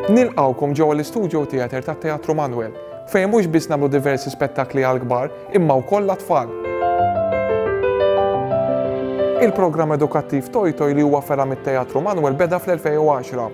Nilqawkom ġewwa l-istudio theater tat-Teatru Manuel, fejn mhux biss nagħmlu diversi spettakli għall-kbar imma wkoll għat-tfal. Il-programm edukattiv Toj Toj li huwa fergħa mit-Teatru Manuel beda fl-2010.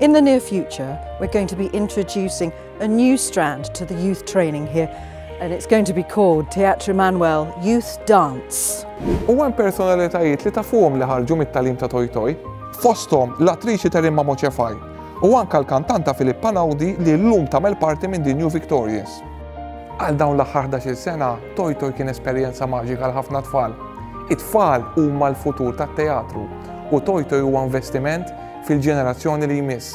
In the near future, we're going to be introducing a new strand to the youth training here, and it's going to be called Teatro Manuel Youth Dance. U hemm personalitajiet li tafuhom li ħarġu mit-talim ta' Toj Toj, fosthom l-attriċi Terimma Moċefaj u anka l-kantanta Filip Panaudi li llum tagħmel parti minn The New Victorians. Għal dawn l-aħħar 11 sena, Toj Toj kien esperjenza maġika għal ħafna tfal. It-tfal huma l-futur tat-teatru u Toj Toj huwa investiment fil-ġenerazzjoni li jmiss.